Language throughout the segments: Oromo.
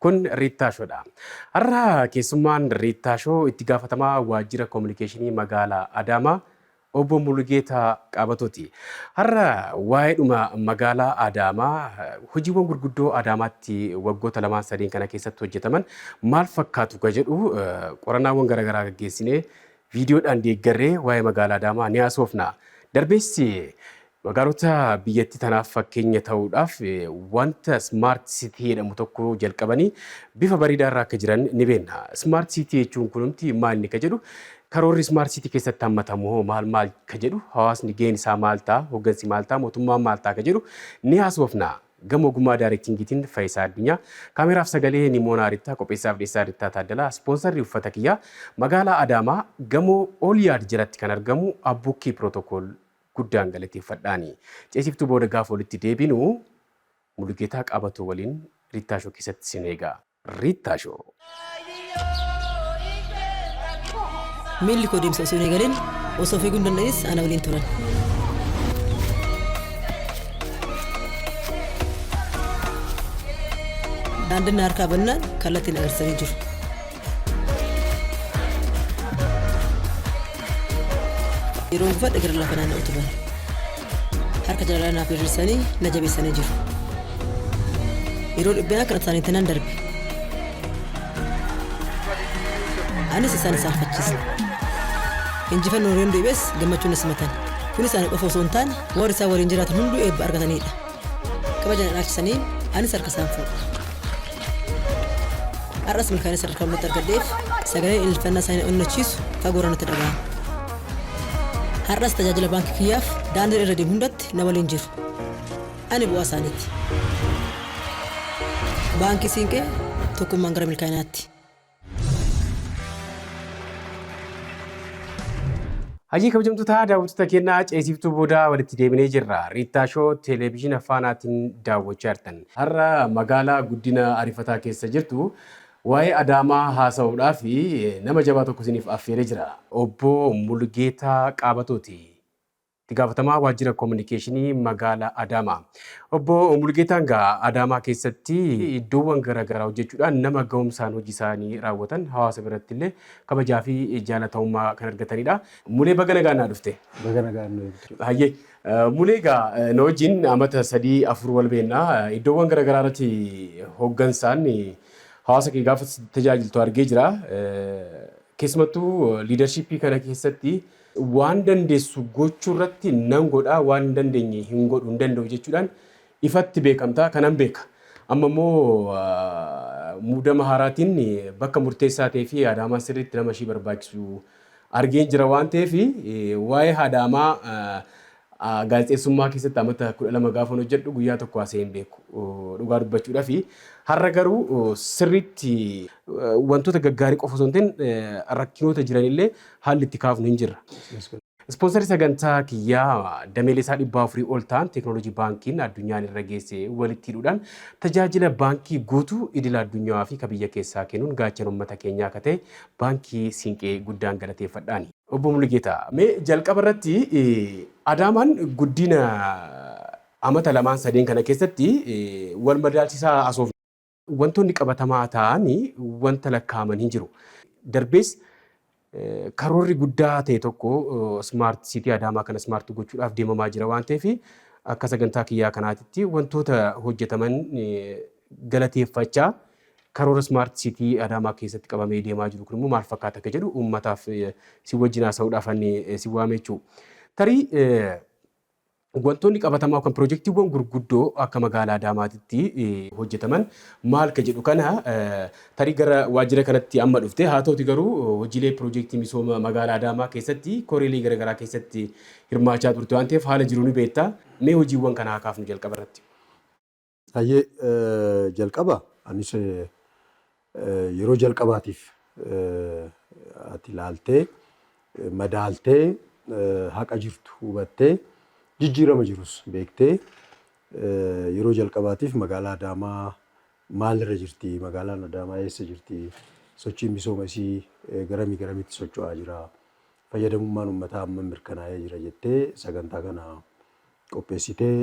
Kun Riittaa Show dha. Har'a keessummaan Riittaa Show itti gaafatamaa waajjira kominikeeshinii magaala Adaamaa Obbo Mulugeetaa Qaabatooti. Har'a waa'eedhuma magaalaa Adaamaa, hojiiwwan gurguddoo Adaamaatti waggoota lamaan sadeen kana keessatti hojjetaman maal fakkaatu ka jedhu qorannaawwan garaagaraa gaggeessinee viidiyoodhaan deeggarree waa'ee magaalaa Adaamaa ni haasofna. Darbees Magaalota biyyattii tanaaf fakkeenya ta'uudhaaf wanta Smart City jedhamu tokko jalqabanii bifa bareedaa irra akka jiran ni beenna. Smart City jechuun kunumti maal inni ka jedhu karoorri Smart City keessatti hammatamu hoo maal maal ka jedhu hawaasni gaheen isaa maal ta'a hoggansi maal ta'a mootummaan maal ta'a ka jedhu ni haasofna. Gama ogummaa daarektingiitiin Fayisaa Addunyaa, kaameraaf sagalee Nimoonaa Rittaa, qopheessaaf dhiyeessaa Rittaa Taaddalaa, ispoonsarri uffata kiyyaa magaalaa Adaamaa gamoo Oolyaad jalatti kan argamu Abbukkii Pirootokool guddaan galateeffadhaani. Ceesiftuu booda gaafa walitti deebinu Mulugeetaa Qaabatoo waliin Riittaa Show keessatti sin eega. Riittaa Show. Miilli koo deemsa osoo hin eegalin osoo fiiguu hin danda'inis ana waliin turan. Daandiin na harkaa bannaan kallattiin agarsiisanii jiru. Yeroo uffadhe gara lafa naanna'u turan. Harka jaalalaa naaf diriirsanii na jabeessanii jiru. Yeroo dhiphinaa kan isaanii tanan darbe. Anis isaan isaan fachiise. Injifannoo yoon deebi'es gammachuun na simatan. Kun isaanii qofa osoo hin taane warri isaan waliin jiraatan hunduu eebba argatanidha. Kabaja na dhaalchisanii anis harka isaan fuudhe. Har'as milkaa'ina sadarkaa hundatti argadheef sagaleen ililfannaa isaanii na onnachiisu fagoorra natti dhaga'ama. Har'as tajaajila baankii kiyyaaf daandiin irra deemu hundatti na waliin jiru. Ani bu'aa isaaniiti. Baankii Siinqee tokkummaan gara milkaa'inaatti. Hajii kabajamtoota daawwattoota keenyaa ceesiftuu booda walitti deebinee jirra. Riittaa Shoo televezyiina faanaatiin daawwachaa jirtan. Har'a magaalaa guddina ariifataa keessa jirtu waa'ee Adaamaa haasa'uudhaaf nama jabaa tokko isiniif affeeree jira. Obbo Mulgeetaa Qaabatooti. Itti gaafatamaa waajjira kominikeeshinii magaala Adaamaa Obbo Mulgeetaan gaa Adaamaa keessatti iddoowwan gara garaa hojjechuudhaan nama ga'umsaan hojii isaanii raawwatan hawaasa biratti illee kabajaa fi jaalatamummaa kan argatanidha. Mulee baga nagaan naa dhufte. Baga nagaan nu eegde. Hayyee Mulee gaa na wajjin amata sadii afur wal beenna iddoowwan gara garaa irratti hoggansaan hawaasa kee gaafa tajaajiltu argee jira. Keessumattuu liidarshiippii kana keessatti Waan dandeessu gochuurratti nan godha, waan hin dandeenye hin godhu, hin danda'u jechuudhaan ifatti beekamta, kanan beeka. Amma immoo muudama haaraatiin bakka murteessaa ta'ee fi haadha Amaa sirriitti nama ishii barbaachisu argeen jira waan ta'eef waa'ee haadha Amaa A, Gaazexeessummaa keessatti amata 12 gaafan hojjedhu guyyaa tokko haasa'ee hin beeku dhugaa dubbachuudhafi. Har'a garuu sirriitti wantoota gaggaarii qofa osoo hin ta'in rakkinoota jiranillee haalli itti kaafnu hin jirra. Ispoonsarii sagantaa kiyyaa dameelee isaa 400 ol ta'an teeknooloojii baankiin addunyaan irra geesse walitti hidhuudhaan tajaajila baankii guutuu idila addunyaa fi ka biyya keessaa kennuun gaachana uummata keenyaa akka ta'e baankii Siinqee guddaan galateeffadha. Obbo Mulugeetaa, mee jalqaba irratti Adaamaan guddiina amata lamaan sadeen kana keessatti wal madaalchisaa haasofna. Wantoonni qabatamaa ta'an wanta lakkaa'aman hin jiru. Darbees karoorri guddaa ta'e tokko Smart City Adaamaa kana smart gochuudhaaf deemamaa jira waan ta'eef akka sagantaa kiyyaa kanaatitti wantoota hojjetaman galateeffachaa Karoora Smart City Adaamaa keessatti qabamee deemaa jiru kun immoo maal fakkaata akka jedhu uummataaf si wajjin haasa'uudhaaf ani si waame jechuu. Tarii wantoonni qabatamaa yookaan pirojektiiwwan gurguddoo akka magaalaa Adaamaatitti hojjetaman maal ka jedhu kana tarii gara waajjira kanatti amma dhufte haa ta'uti garuu hojiilee pirojektii misooma magaalaa Adaamaa keessatti koreelee garaagaraa keessatti hirmaachaa turte waan ta'eef haala jiru ni beekta mee hojiiwwan kana haa kaafnu jalqaba irratti. Hayyee jalqaba anis yeroo jalqabaatiif ati ilaaltee, madaaltee, haqa jirtu hubattee, jijjiirama jirus beektee yeroo jalqabaatiif magaalaa Adaamaa maalirra jirti, magaalaan Adaamaa eessa jirti, sochiin misooma isii garamii garamitti socho'aa jira, fayyadamummaan ummataa hammam mirkanaa'ee jira jettee sagantaa kana qopheessitee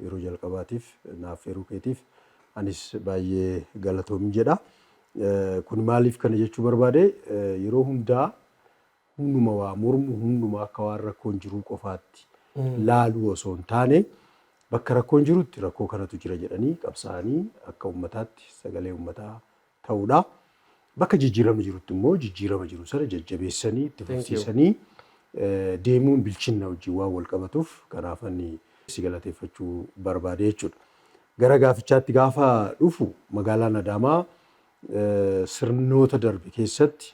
yeroo jalqabaatiif na affeeruu keetiif anis baay'ee galatoomi jedha. Kun maaliif kana jechuu barbaade yeroo hundaa humnuma waa mormu humnuma akka waan rakkoon jiruu qofaatti laaluu osoo hin taane bakka rakkoon jirutti rakkoo kanatu jira jedhanii qabsaa'anii akka ummataatti sagalee ummataa ta'uudha. Bakka jijjiiramni jirutti immoo jijjiirama jiru sana jajjabeessanii itti fufsiisanii deemuun bilchinna wajjin waan wal qabatuuf kanaafan si galateeffachuu barbaade jechuudha. Gara gaafichaatti gaafa dhufu magaalaan Adaamaa sirnoota darbe keessatti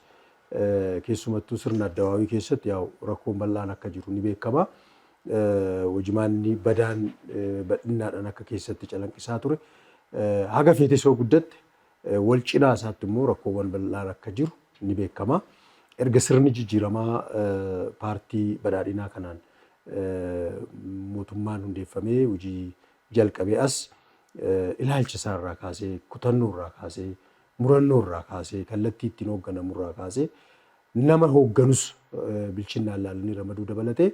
Keessumattuu sirna Addawaawii keessatti yaa'u rakkoon bal'aan akka jiru ni beekama. Hojimaanni badaan badhinnaadhaan akka keessatti calanqisaa ture. Haga feetes yoo guddatte wal cinaa isaatti immoo rakkoowwan bal'aan akka jiru ni beekama. Erga sirni jijjiiramaa paartii badhaadhinaa kanaan mootummaan hundeeffamee hojii jalqabee as ilaalcha isaa irraa kaasee, kutannoo irraa kaasee, Murannoo irraa kaasee, kallattii ittiin hoogganamu irraa kaasee, nama hoogganus bilchinnaan ilaalanii ramaduu dabalatee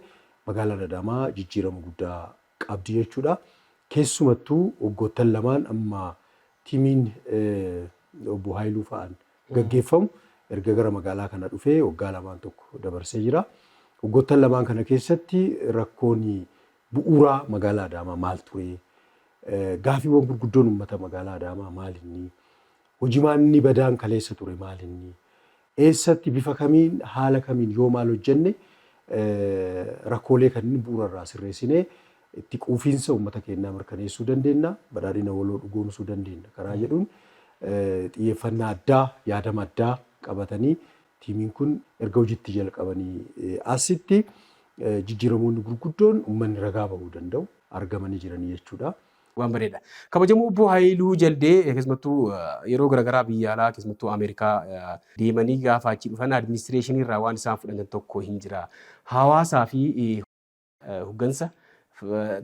magaalaan Adaamaa jijjiirama guddaa qabdi jechuudha. Keessumattuu waggoottan lamaan amma tiimiin Obbo Haayiluu fa'aan gaggeeffamu erga gara magaalaa kana dhufee waggaa lamaan tokko dabarsee jira. Waggoottan lamaan kana keessatti rakkoon bu'uuraa magaalaa Adaamaa maal turee? Gaafiiwwan gurguddoon uummata magaalaa Adaamaa maal inni? Hojimaanni badaan kaleessa ture maal inni? Eessatti bifa kamiin haala kamiin yoo maal hojjenne rakkoolee kanneen bu'uura irraa sirreessinee itti quufiinsa uummata keenyaa mirkaneessuu dandeenya, badhaadhina waloo dhugoomsuu dandeenya karaa jedhuun xiyyeeffannaa addaa, yaadama addaa qabatanii Tiimiin kun erga hojitti jalqabanii asitti jijjiiramoonni gurguddoon uummanni ragaa bahuu danda'u argamanii jiranii jechuudha. Waan bareeda. Kabajamoo obbo Hayiluu Jaldee keessumattuu yeroo garaagaraa biyya alaa keessumattuu Ameerikaa deemanii gaafa achi dhufan administireeshinii irraa waan isaan fudhatan tokko hin jira. Hawaasaa fi hoggansa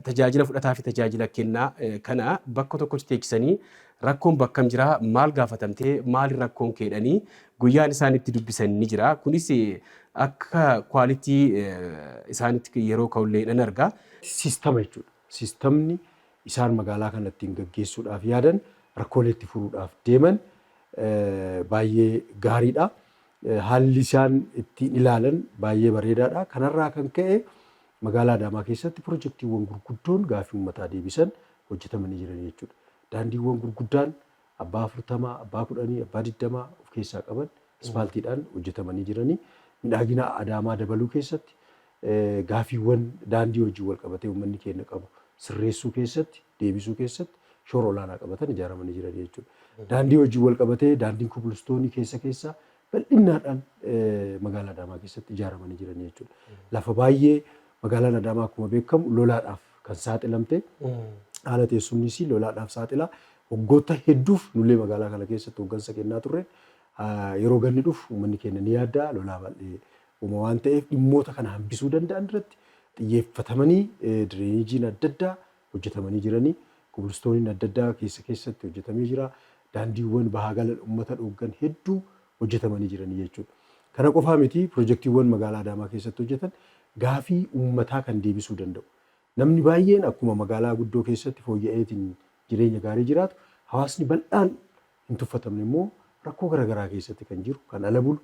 tajaajila fudhataa fi tajaajila kennaa kana bakka tokkotti teechisanii rakkoon bakkam jira maal gaafatamtee maali rakkoon keedhanii guyyaan isaan itti dubbisan ni jira kunis akka kwaalitii isaanitti yeroo ka'ullee nan argaa. Siistama jechuudha. Siistamni isaan magaalaa kana ittiin gaggeessuudhaaf yaadan rakkoolee itti furuudhaaf deeman baay'ee gaariidha. Haalli isaan ittiin ilaalan baay'ee bareedaadha. Kanarraa kan ka'e magaalaa Adaamaa keessatti pirojektiiwwan gurguddoon gaaffii uummataa deebisan hojjetamanii jiran jechuudha. Daandiiwwan gurguddaan abbaa afurtamaa, abbaa kudhanii, abbaa digdamaa of keessaa qaban ispaaltiidhaan hojjetamanii jiranii midhaagina Adaamaa dabaluu keessatti gaaffiiwwan daandii wajjin walqabatee uummanni keenya qabu sirreessuu keessatti, deebisuu keessatti shoora olaanaa qabatan ijaaramanii jirani jechuudha. Daandii wajjin walqabatee daandiin kobilistoonii keessa keessaa bal'innaadhaan magaalaa Adaamaa keessatti ijaaramanii jirani jechuudha. Lafa baay'ee magaalaan Adaamaa akkuma beekamu lolaadhaaf kan saaxilamte haala teessumni isii lolaadhaaf saaxila. Waggoota hedduuf nullee magaalaa kana keessatti hooggansa kennaa turre yeroo ganni dhufu uummanni keenya ni yaaddaa lolaa baay'ee uma waan ta'eef dhimmoota kana hambisuu danda'an irratti xiyyeeffatamanii direenijiin adda addaa hojjetamanii jirani. Kobilistooniin adda addaa keessa keessatti hojjetamee jira. Daandiiwwan bahaa galan ummata dhooggan hedduu hojjetamanii jirani jechuudha. Kana qofaa miti pirojektiiwwan magaalaa Adaamaa keessatti hojjetan gaafii ummataa kan deebisuu danda'u. Namni baay'een akkuma magaalaa guddoo keessatti fooyya'eetiin jireenya gaarii jiraatu hawaasni bal'aan hin tuffatamne immoo rakkoo gara garaa keessatti kan jiru, kan ala bulu,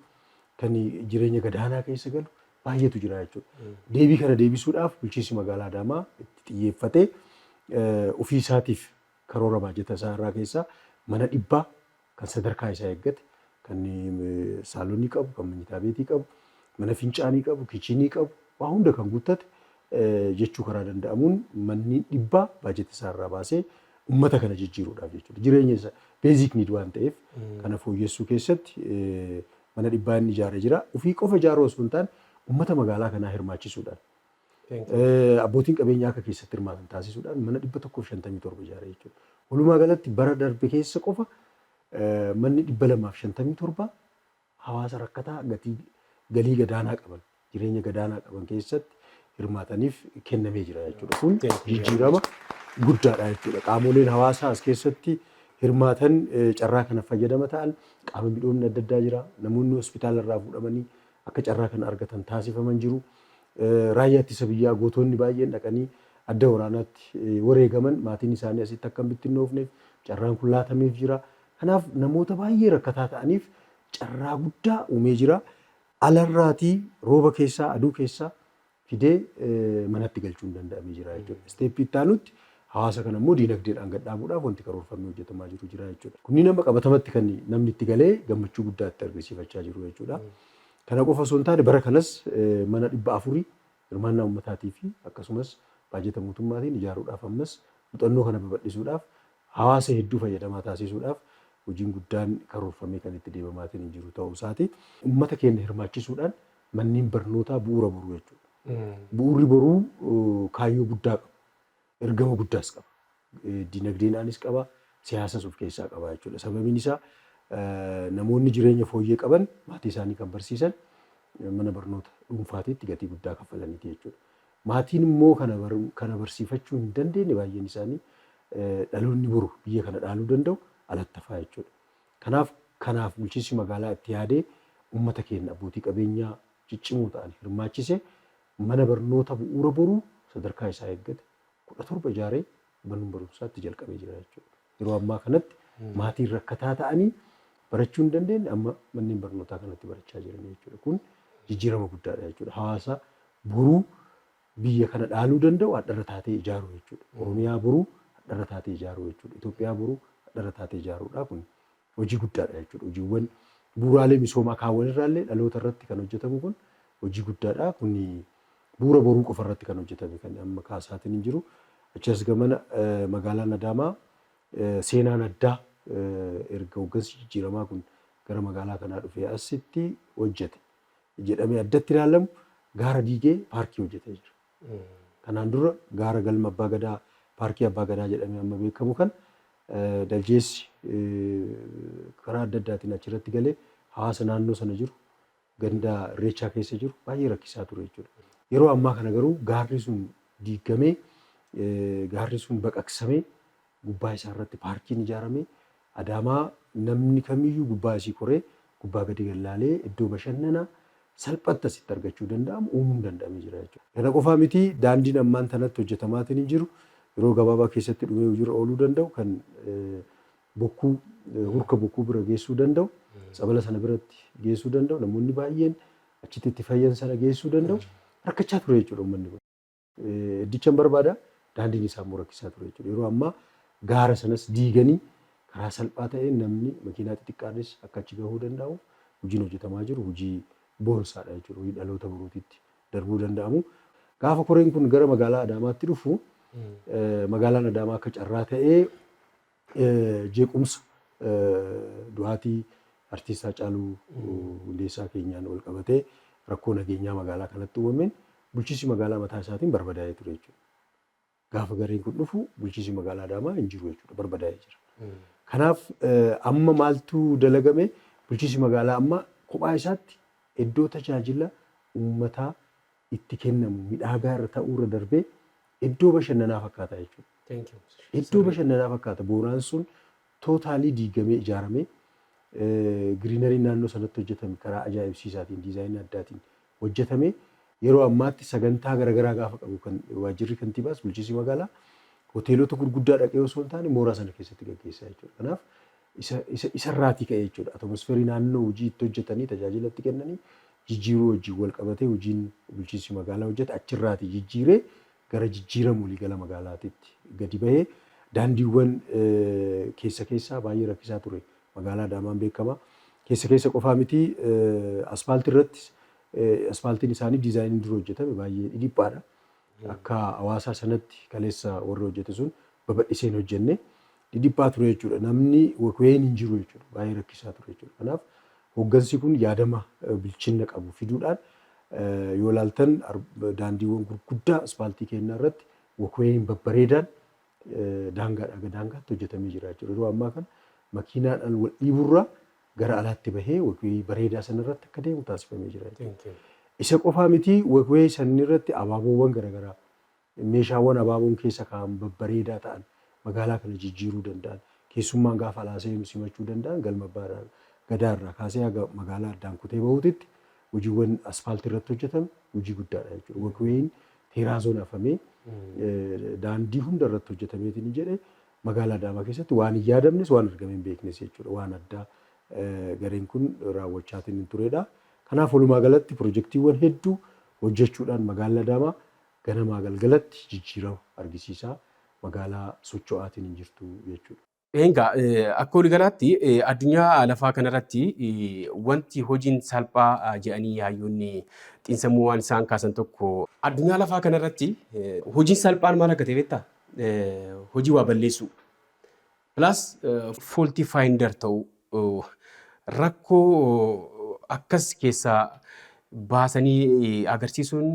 kan jireenya gadaanaa keessa galu baay'eetu jira jechuudha. Deebii kana deebisuudhaaf bulchiinsi magaalaa Adaamaa itti xiyyeeffatee eh, ofii isaatiif karoora baajata isaa irraa keessaa mana dhibbaa kan sadarkaa isaa eeggate kan eh, saalonii qabu, kan manyitaa beetii qabu, mana fincaanii qabu, kichinii qabu, waa hunda kan guuttate jechuu karaa danda'amuun manni dhibbaa baajeta isaa irraa baasee ummata kana jijjiiruudhaaf jechuudha. Jireenya isa basic need waan ta'eef kana fooyyessuu keessatti mana dhibbaa inni ijaaree jira. Ofii qofa ijaaruu osoo hin taane ummata magaalaa kanaa hirmaachisuudhaan abbootiin qabeenyaa akka keessatti hirmaatan taasisuudhaan mana dhibba tokkoof shantamii torba ijaaree jechuudha. Walumaa galatti bara darbe keessa qofa manni dhibba lamaaf shantamii torba hawaasa rakkataa gatii galii gadaanaa qaban, jireenya gadaanaa qaban keessatti hirmaataniif kennamee jira jechuudha. Kun jijjiirama guddaadha jechuudha. Qaamoleen hawaasaa as keessatti hirmaatan eh, carraa kana fayyadama ta'an qaama midhoomni adda addaa jira. Namoonni hospitaala irraa fuudhamanii akka carraa kana argatan taasifaman jiru. Eh, Raayyaa ittisa biyyaa gootonni baay'een dhaqanii adda waraanaatti eh, wareegaman maatiin isaanii asitti akka hin bittinnoofneef carraan kun laatameef jira. Kanaaf namoota baay'ee rakkataa ta'aniif carraa guddaa uumee jira. Alarraatii rooba keessaa, aduu keessaa fidee manatti galchuun danda'amee jira jechuudha. Isteeppii itti aanutti hawaasa kana immoo diinagdeedhaan gad dhaabuudhaaf wanti karoorfamee hojjetamaa jiru jira jechuudha. Kunniin amma qabatamatti kan namni itti galee gammachuu guddaa itti argisiifachaa jiru jechuudha. Kana qofa osoo hin taane bara kanas mana dhibba afuri hirmaannaa ummataatii fi akkasumas baajata mootummaatiin ijaaruudhaaf ammas muxannoo kana babaldhisuudhaaf hawaasa hedduu fayyadamaa taasiisuudhaaf hojiin guddaan karoorfamee kan itti deemamaatiin jiru ta'uu isaati. Ummata keenna hirmaachisuudhaan manneen barnootaa bu'uura boruu jechuudha. Bu'uurri boruu kaayyoo guddaa qabu. ergama guddaas qaba. Dinagdeenaanis qaba, siyaasas of keessaa qaba jechuudha. Sababiin isaa namoonni jireenya fooyyee qaban maatii isaanii kan barsiisan mana barnoota dhuunfaatiitti gatii guddaa kaffalaniiti jechuudha. Maatiin immoo kana, kana barsiifachuu hin dandeenye baay'een isaanii dhaloonni boru biyya kana dhaaluu danda'u alattafaa jechuudha. Kanaaf kanaaf bulchiinsi magaalaa itti yaadee uummata keenya abbootii qabeenyaa ciccimoo ta'an hirmaachise Mana barnoota bu'uura boruu sadarkaa isaa eeggate 17 ijaaree mann barumsaa itti jalqabee jira jechuudha. Yeroo ammaa kanatti maatiin rakkataa ta'anii barachuu hin dandeenye amma manneen barnootaa kanatti barachaa jiranii jechuudha. Kun jijjiirama guddaadha jechuudha. Hawaasa boruu biyya kana dhaaluu danda'u hadharra taatee ijaaruu jechuudha. Oromiyaa boruu hadharra taatee ijaaruu jechuudha. Itoophiyaa boruu hadharra taatee ijaaruudha kuni. hojii guddaadha jechuudha. Hojiiwwan bu'uuraalee misoomaa kaawwan irraallee dhaloota irratti kan hojjetamu kun hojii guddaadha. Kun bu'uura boruu qofa irratti kan hojjetame kan amma kaasaatiin hin jiru. Achi as gamana magaalaan Adaamaa seenaan addaa erga hooggansi jijjiiramaa kun gara magaalaa kanaa dhufee asitti hojjete jedhamee addatti ilaalamu gaara diigee paarkii hojjetee jira. Kanaan dura gaara Galma Abbaa Gadaa, Paarkii Abbaa Gadaa jedhamee amma beekamu kana daljeessi karaa adda addaatiin achirratti galee hawaasa naannoo sana jiru, ganda Irreechaa keessa jiru baay'ee rakkisaa ture jechuudha. Yeroo ammaa kana garuu gaarri sun diiggamee, gaarri sun baqaqsamee gubbaa isaa irratti paarkiin ijaarame Adaamaa namni kamiyyuu gubbaa isii koree gubbaa gadi gad laalee iddoo bashannana salphatti asitti argachuu danda'amu uumuun danda'amee jira jechuudha. Kana qofaa miti daandiin ammaan tanatti hojjetamaatiin jiru yeroo gabaabaa keessatti dhumee hojiirra ooluu danda'u kan bokkuu hurka bokkuu bira geessuu danda'u tsabala sana biratti geessuu danda'u namoonni baay'een achitti itti fayyan sana geessuu danda'u rakkachaa ture jechuudha uummanni kun. Iddichan barbaada. Daandiin isaa immoo rakkisaa ture jechuudha. Yeroo ammaa gaara sanas diiganii karaa salphaa ta'een namni makiinaa xixiqqaanis akka achi gahuu danda'u hojiin hojjetamaa jiru hojii boonsaadha jechuudha. Hojii dhaloota boruutitti darbuu danda'amu. Gaafa koreen kun gara magaalaa Adaamaatti dhufu magaalaan Adaamaa akka carraa ta'ee Jeequmsa du'aatii Artiist Haacaaluu Hundeessaa keenyaan walqabatee rakkoo nageenyaa magaalaa kanatti uumameen bulchiinsi magaalaa mataa isaatiin barbadaa'ee ture jechuudha. Gaafa gareen kun dhufu bulchiinsi magaalaa Adaamaa hin jiru jechuudha barbadaa'ee jira. Kanaaf amma maaltu dalagame bulchiinsi magaalaa amma kophaa isaatti iddoo tajaajila uummataa itti kennamu midhaagaa irra ta'uu irra darbee iddoo bashannanaa fakkaata jechuudha. Thank you. Iddoo Sirrii. bashannanaa fakkaata. Booraan sun tootaalii diigamee ijaaramee giriinariin naannoo sanatti hojjetame karaa ajaa'ibsiisaatiin diizaayinii addaatiin hojjetame. Yeroo ammaatti sagantaa garaagaraa gaafa qabu kan waajjirri kantiibaas bulchiinsi magaalaa hoteelota gurguddaa dhaqee osoo hin taane mooraa sana keessatti gaggeessaa jechuudha. Kanaaf isa isa isa irraatii ka'ee jechuudha. Atmosferii naannoo hojii itti hojjetanii tajaajila itti kennanii jijjiiruu wajjin wal qabatee hojiin bulchiinsi magaalaa hojjete achirraatii jijjiiree gara jijjiirama waliigala magaalaatitti gadi bahee daandiiwwan keessa keessaa baay'ee rakkisaa ture magaalaa Adaamaan beekama. Keessa keessa qofaa miti aspaaltii irrattis aspaaltiin isaanii diizaayiniin dura hojjetame baay'ee dhidhiphaadha. Akka hawaasaa sanatti kaleessa warri hojjete sun babadhisee hin hojjenne. Dhidhiphaa ture jechuudha. Namni wkn hin jiru jechuudha. Baay'ee rakkisaa ture jechuudha. Kanaaf hoggansi kun yaadama bilchinna qabu fiduudhaan yoo ilaaltan daandiiwwan gurguddaa ispaaltii keennaa irratti wkn babbareedaan daangaadhaa haga daangaatti hojjetamee jira jechuudha. Yeroo ammaa kana makiinaadhaan wal dhiiburraa gara alaatti bahee wagwee bareedaa sanarratti akka deemu taasifamee jira jechuudha. Isa qofaa miti wagwee sanirratti abaaboowwan garaagaraa meeshaawwan abaaboon keessa kaa'an babbareedaa ta'an magaalaa kana jijjiiruu danda'an keessummaan gaafa alaa seenu simachuu danda'an galma abbaa gadaa irraa kaasee haga magaalaa addaan kutee bahuutitti hojiiwwan asfaaltii irratti hojjetame hojii guddaadha jechuudha. Wagweeyiin Teeraazoon afamee daandii hunda irratti hojjetameetiin jedhe magaalaa Adaamaa keessatti waan hin yaadamnes waan argamee hin beeknes jechuudha. Waan addaa gareen kun raawwachaatiin hin turedha. Kanaaf walumaa galatti pirojektiiwwan hedduu hojjechuudhaan magaalli Adaamaa ganamaa galgalatti jijjiirama argisiisaa magaalaa socho'aatiin hin jirtu jechuudha. Egaa akka waligalaatti addunyaa lafaa kanarratti wanti hojiin salphaa jedhanii yaayyoonni xiinsammuu waan isaan kaasan tokko addunyaa lafaa kanarratti hojiin salphaan maal akka ta'e beektaa? Hojii waa balleessuu. Plus faulty finder ta'uu. Rakkoo akkas keessaa baasanii agarsiisuun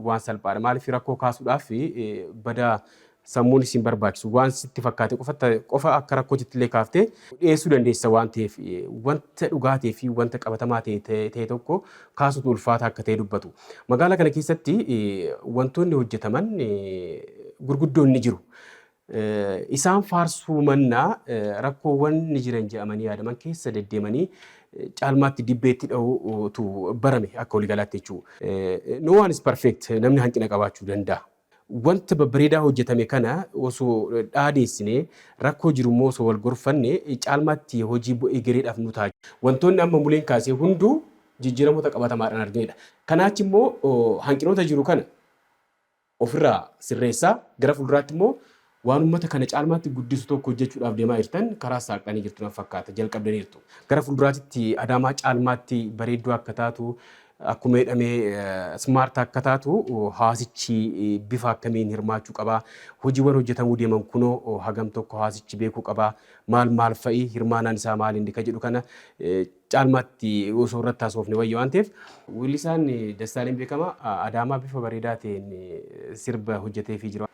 waan salphaadha. Maaliif rakkoo kaasuudhaaf bada sammuun isin barbaachisu waan sitti fakkaate qofa akka rakkootitti illee kaaftee dhiyeessuu dandeessa waan ta'eef wanta dhugaa ta'ee fi wanta qabatamaa ta'e tokko kaasuutu ulfaataa akka ta'e dubbatu. Magaalaa kana keessatti wantoonni hojjetaman gurguddoon ni jiru. Isaan faarsuu mannaa rakkoowwan ni jiran jedhamanii yaadaman keessa deddeemanii caalmaatti dibbeetti dha'uutu barame akka waligalaatti jechuu. No one is perfect namni hanqina qabaachuu danda'a. Wanta babbareedaa hojjetame kana osoo dhaadeessinee rakkoo jiru immoo osoo wal gorfanne caalmaatti hojii egereedhaaf nu ta'a. Wantoonni amma Muleen kaasee hunduu jijjiiramoota qabatamaadhaan arginedha. Kanaachi immoo hanqinoota jiru kana ofirraa sirreessaa gara fulduraatti immoo waan ummata kana caalmaatti guddisu tokko hojjechuudhaaf deemaa jirtan karaas saaqxanii jirtu natti fakkaata jalqabdaniirtu. Gara fulduraatitti Adaamaa caalmaatti bareedduu akka taatu akkuma jedhame smart akka taatu hawaasichi bifa akkamiin hirmaachuu qaba? Hojiiwwan hojjetamuu deeman kunoo hagam tokko hawaasichi beekuu qaba? Maal maal fa'i? Hirmaanaan isaa maal inni ka jedhu kana caalmaatti osoo irratti haasofne wayya waan ta'eef. Weellisaan Dassaaleny Beekamaa Adaamaa bifa bareedaa ta'een sirba hojjeteefii jira.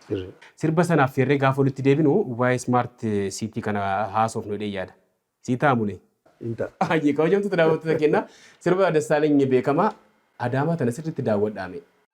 Sirba sana affeerree gaafa walitti deebinu waa'ee Smart City kana haasofnu jedhee yaada. Sii ta'a Mulee? Hin ta'a. Hayyee kabajamtoota daawwattoota keenyaa sirba Dassaaleny Beekamaa Adaamaa tana sirriitti daawwadhaa mee.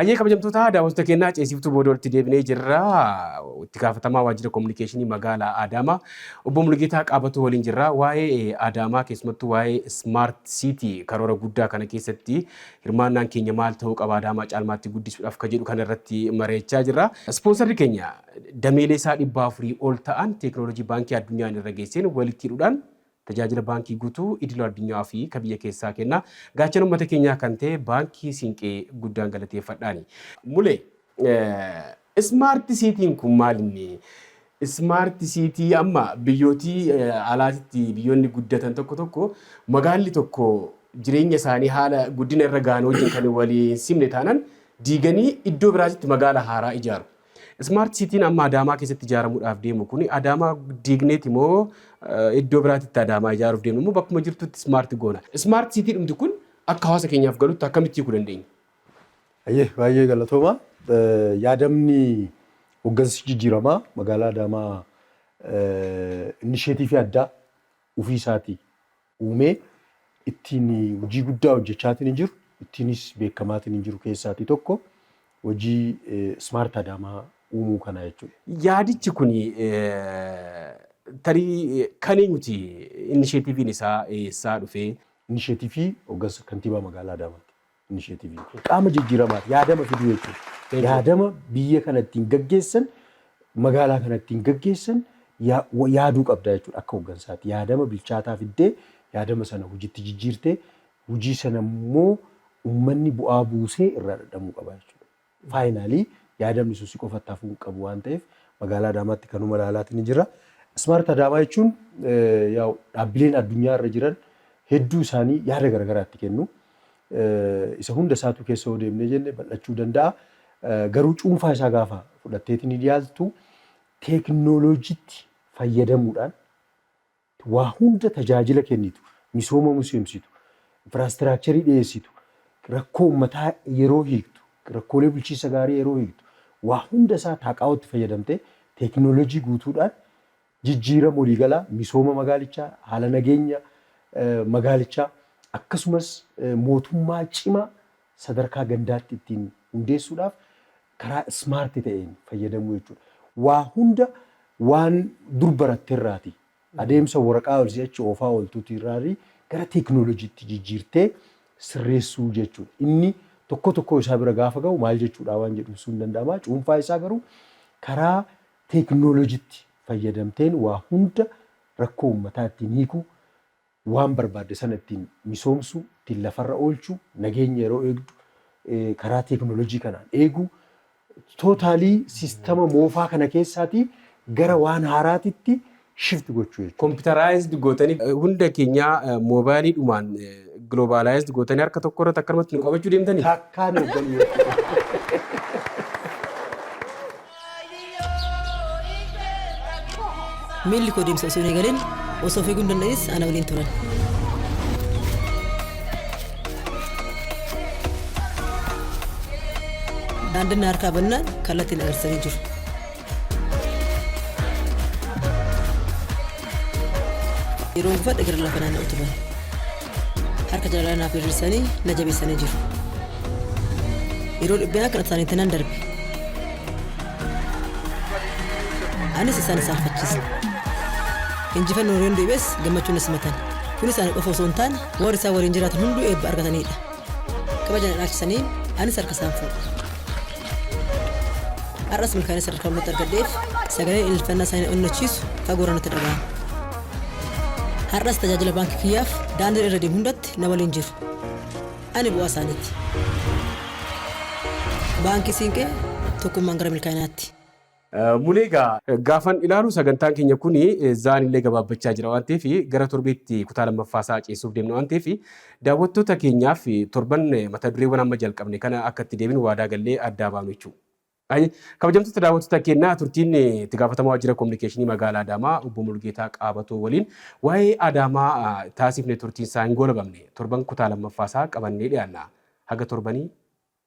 Hayyee kabajamtoota daawwattoota keenyaa ceesiftuu booda walitti deebinee jirra. Itti gaafatamaa waajjira kominikeeshinii magaalaa Adaamaa obbo Mulgeetaa Qaabatuu waliin jirra. Waa'ee Adaamaa keessumattuu waa'ee Smart City karoora guddaa kana keessatti Hirmaannaan keenya maal ta'uu qaba Adaamaa caalmaatti guddisuudhaaf ka jedhu kana irratti mari'achaa jirra. Ispoonsarri keenya dameelee isaa dhibba afurii ol ta'an teeknooloojii Baankii Addunyaan irra geesseen walitti hidhuudhaan tajaajila baankii guutuu idila addunyaa fi ka biyya keessaa kenna. Gaachana ummata keenyaa kan ta'e Baankii Siinqee guddaan galateeffadhaani. Mule, Ismaarti siitiin kun maal inni? Ismaarti siitii amma biyyootii alaatitti biyyoonni guddatan tokko tokko magaalli tokko jireenya isaanii haala guddina irra gahan wajjin kan walii hin simne taanan diiganii iddoo biraatitti magaala haaraa ijaaru. Ismaarti siitiin amma Adaamaa keessatti ijaaramuudhaaf deemu kun Adaamaa diigneeti moo iddoo biraatitti Adaamaa ijaaruuf deemna moo bakkuma jirtutti ismaarti goona? Ismaarti siitii dhumti kun akka hawaasa keenyaaf galutti akkamitti hiikuu dandeenya? Hayyee baay'ee galatoomaa. Yaadamni hoggansi jijjiiramaa magaalaa Adaamaa innisheetiivii addaa ofii isaatii uumee ittiin hojii guddaa hojjechaatiin jiru, ittiinis beekamaatiin jiru keessaatii tokko hojii Smart Adaamaa uumuu kanaa jechuudha. Yaadichi kuni tarii kan eenyuti? Innisheetiiviin isaa eessaa dhufee? Innisheetiivii hoggansa kantiibaa magaalaa Adaamaati. Inisheetiviin kun qaama jijjiiramaati. Yaadama fiduu jechuudha. Yaadama biyya kana ittiin gaggeessan, magaalaa kana ittiin gaggeessan yaaduu qabda jechuudha akka hooggansaatti. Yaadama bilchaataa fiddee yaadama sana hojiitti jijjiirtee hojii sana immoo uummanni bu'aa buusee irraa dhadhamuu qaba jechuudha. Finally yaadamni sun si qofatti hafuu hin qabu waan ta'eef magaalaa Adaamaatti kanuma ilaalaatini jirra. Smart Adaamaa jechuun yaa'u dhaabbileen addunyaa irra jiran hedduu isaanii yaada garagaraa itti kennu. Isa hunda isaatuu keessa yoo deemnee jenne bal'achuu danda'a. Garuu cuunfaa isaa gaafa fudhatteetini dhiyaattu teeknooloojiitti fayyadamuudhaan Waa hunda tajaajila kennitu, misooma misoomsitu, infiraastiraakcharii dhiyeessitu, rakkoo uummataa yeroo hiiktu, rakkoolee bulchiinsa gaarii yeroo hiiktu, waa hunda isaa Taaqaawootti fayyadamtee teeknooloojii guutuudhaan jijjiirama waliigalaa misooma magaalichaa, haala nageenya magaalichaa akkasumas mootummaa cimaa sadarkaa gandaatti ittiin hundeessuudhaaf karaa smart ta'een fayyadamuu jechuudha. Waa hunda waan dur baratte irraati adeemsa waraqaa olii achi oofaa ooltuuti irraari gara teeknooloojiitti jijjiirtee sirreessuu jechuudha. Inni tokkoo tokkoo isaa bira gaafa gahu maal jechuudhaa waan jedhu ibsuun ni danda'ama. Cuunfaa isaa garuu karaa teeknooloojiitti fayyadamteen waa hunda rakkoo uummataa ittiin hiikuu waan barbaadde sana ittiin misoomsuu, ittiin lafarra oolchuu, nageenya yeroo eegdu karaa teeknooloojii kanaan eeguu, totally siistama moofaa kana keessaatii gara waan haaraatitti shift gochuu jechuudha. Computerized gootanii hunda keenyaa mobile dhumaan globalized gootanii harka tokko irratti akkanumatti nu qabachuu deemtanii? Takkaa nu hogganuu jechuudha. Miilli koo deemsa osoo hin eegalin osoo fiiguu hin danda'inis ana waliin turan. Daandiin na harkaa bannaan kallattii na agarsiisanii jiru. Yeroon gufadhe gara lafa naanna'u turan. harka jalalaan naaf hir'isanii na jabeessanii jiru. Yeroo dhibbinaa kan isaaniitti nan darbe. Anis isaan isaan fachiise. Injifannoo Reendu Ibees gammachuun na simatan. Kun isaanii qofa osoo hin taane warri isaan waliin jiraatan hunduu eebba argatanidha. Kabaja na dhaalchisanii anis harka isaan fuudhe. Har'as milkaa'ina sadarkaa olmaatti argadheef sagaleen ililfannaa isaanii na onnachiisu fagoorra natti dhaga'ama. Har'as tajaajila baankii kiyyaaf daandiin irra deemu hundatti na waliin jiru. Ani bu'aa isaaniiti. Baankii Siinqee tokkummaan gara milkaa'inaatti. Mulee egaa gaafan ilaalu sagantaan keenya kun zaan illee gabaabbachaa jira waan ta'eef gara torbeetti kutaa lammaffaa isaa ceessuuf deemna waan ta'eef daawwattoota keenyaaf torban mata dureewwan amma jalqabne kana akka itti deebinu waadaa gallee addaa baanu jechuudha. Ayi, Kabajamtoota daawwattoota keenyaa turtiin itti gaafatamaa waajjira kominikeeshinii magaalaa Adaamaa obbo Mulgeetaa Qaabatoo waliin waa'ee Adaamaa taasifne turtiin isaa hin goolabamne. Torban kutaa lammaffaa isaa qabannee dhiyaanna. Haga torbanii